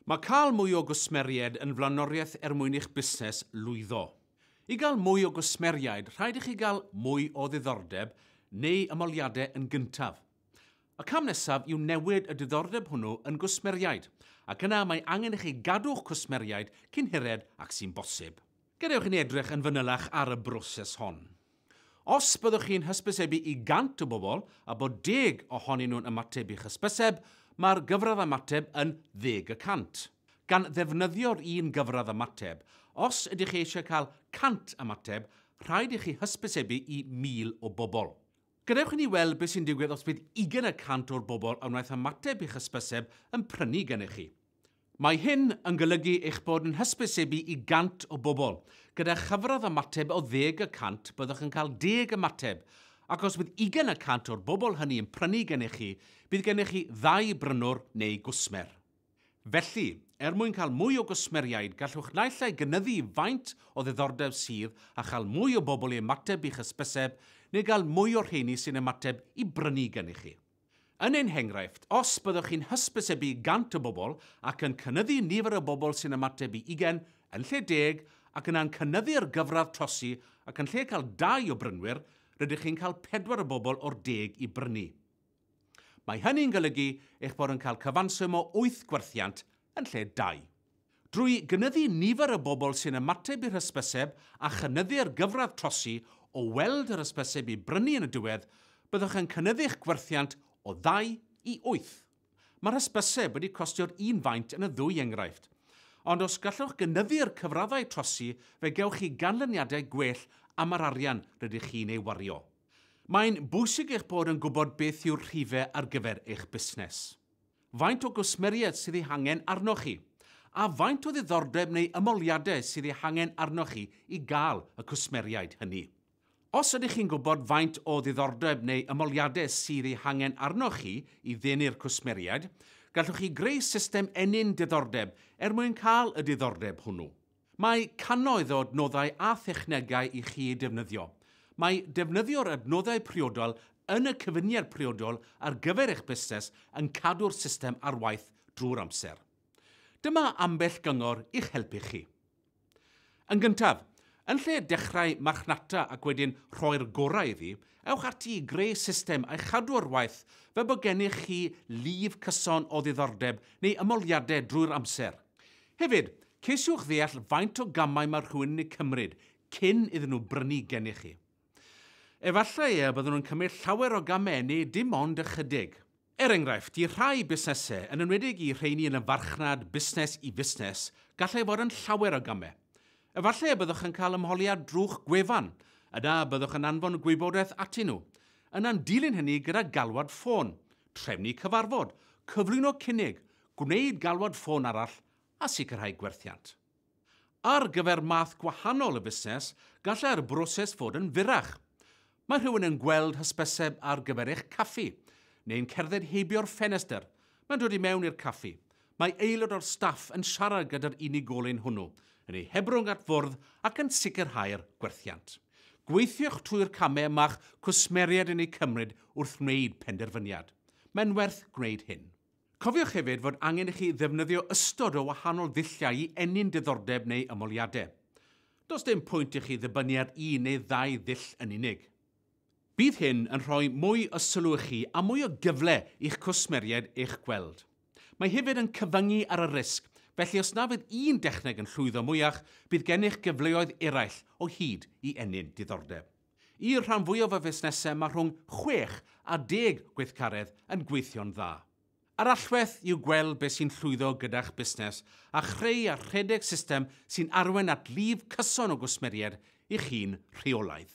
Mae cael mwy o gwsmeriaid yn flaenoriaeth er mwyn i'ch busnes lwyddo. I gael mwy o gwsmeriaid, rhaid i chi gael mwy o ddiddordeb neu ymholiadau yn gyntaf. Y cam nesaf yw newid y diddordeb hwnnw yn gwsmeriaid, ac yna mae angen i chi gadw'ch cwsmeriaid cyn hired ag sy'n bosib. Gadewch i ni edrych yn fanylach ar y broses hon. Os byddwch chi'n hysbysebu i 100 o bobl a bod deg ohonyn nhw'n ymateb i'ch hysbyseb, mae'r gyfradd ymateb yn ddeg y cant. Gan ddefnyddio'r un gyfradd ymateb, os ydych chi eisiau cael 100 ymateb, rhaid i chi hysbysebu i 1,000 o bobl. Gadewch i ni weld beth sy'n digwydd os bydd ugain y cant o'r bobl a wnaeth ymateb i'ch hysbyseb yn prynu gennych chi. Mae hyn yn golygu eich bod yn hysbysebu i 100 o bobl. Gyda chyfradd ymateb o ddeg y cant byddwch yn cael deg ymateb, ac os bydd ugain y cant o'r bobl hynny yn prynu gennych chi, bydd gennych chi ddau brynwr neu gwsmer. Felly, er mwyn cael mwy o gwsmeriaid, gallwch naill ai gynyddu faint o ddiddordeb sydd a chael mwy o bobl i ymateb i'ch hysbyseb, neu gael mwy o'r rheini sy'n ymateb i brynu gennych chi. Yn ein henghraifft, os byddwch chi'n hysbysebu 100 o bobl ac yn cynyddu nifer y bobl sy'n ymateb i 20 yn lle deg ac yna'n cynyddu'r gyfradd trosi ac yn lle cael dau o brynwyr, rydych chi'n cael pedwar o bobl o'r deg i brynu. Mae hynny'n golygu eich bod yn cael cyfanswm o wyth gwerthiant yn lle dau. Drwy gynyddu nifer y bobl sy'n ymateb i'r hysbyseb a chynyddu'r gyfradd trosi o weld yr hysbyseb i brynu yn y diwedd, byddwch yn cynyddu'ch gwerthiant o ddau i wyth. Mae'r hysbyseb wedi costio'r un faint yn y ddwy enghraifft. Ond os gallwch gynyddu'r cyfraddau trosi fe gewch chi ganlyniadau gwell am yr arian rydych chi'n ei wario. Mae'n bwysig eich bod yn gwybod beth yw'r rhifau ar gyfer eich busnes. Faint o gwsmeriaid sydd eu hangen arnoch chi? A faint o ddiddordeb neu ymoliadau sydd eu hangen arnoch chi i gael y cwsmeriaid hynny? Os ydych chi'n gwybod faint o ddiddordeb neu ymoliadau sydd eu hangen arnoch chi i ddenu'r cwsmeriaid, gallwch chi greu system ennyn diddordeb er mwyn cael y diddordeb hwnnw. Mae cannoedd o adnoddau a thechnegau i chi eu defnyddio. Mae defnyddio'r adnoddau priodol yn y cyfuniad priodol ar gyfer eich busnes yn cadw'r system ar waith drwy'r amser. Dyma ambell gyngor i'ch helpu chi. Yn gyntaf, yn lle dechrau marchnata ac wedyn rhoi'r gorau iddi, ewch ati i greu system a'i chadw ar waith fel bod gennych chi lif cyson o ddiddordeb neu ymholiadau drwy'r amser. Hefyd, ceisiwch ddeall faint o gamau mae rhywun yn eu cymryd cyn iddyn nhw brynu gennych chi. Efallai y byddwn yn cymryd llawer o gamau neu dim ond ychydig. Er enghraifft, i rhai busnesau, yn enwedig i rheiny yn y farchnad busnes i fusnes, gallai fod yn llawer o gamau. Efallai y byddwch yn cael ymholiad drwch gwefan, yna y byddwch yn anfon gwybodaeth atyn nhw, yna'n dilyn hynny gyda galwad ffôn, trefnu cyfarfod, cyflwyno cynnig, gwneud galwad ffôn arall a sicrhau gwerthiant. Ar gyfer math gwahanol o fusnes, gallai'r broses fod yn fyrrach. Mae rhywun yn gweld hysbyseb ar gyfer eich caffi, neu'n cerdded heibio'r ffenestr, mae'n dod i mewn i'r caffi, mae aelod o'r staff yn siarad gyda'r unigolyn hwnnw, yn ei hebrwng at fwrdd ac yn sicrhau'r gwerthiant. Gweithiwch trwy'r camau ma'ch cwsmeriaid yn eu cymryd wrth wneud penderfyniad. Mae'n werth gwneud hyn. Cofiwch hefyd fod angen i chi ddefnyddio ystod o wahanol ddulliau i ennyn diddordeb neu ymholiadau. Does dim pwynt i chi ddibynnu ar un neu ddau ddull yn unig. Bydd hyn yn rhoi mwy o sylw i chi a mwy o gyfle i'ch cwsmeriaid eich gweld. Mae hefyd yn cyfyngu ar y risg, felly os na fydd un dechneg yn llwyddo mwyach, bydd gennych gyfleoedd eraill o hyd i ennyn diddordeb. I'r rhan fwyaf o fusnesau mae rhwng chwech a deg gweithgaredd yn gweithio'n dda. Yr allwedd yw gweld beth sy'n llwyddo gyda'ch busnes a chreu a rhedeg system sy'n arwain at lif cyson o gwsmeriaid i chi'n rheolaidd.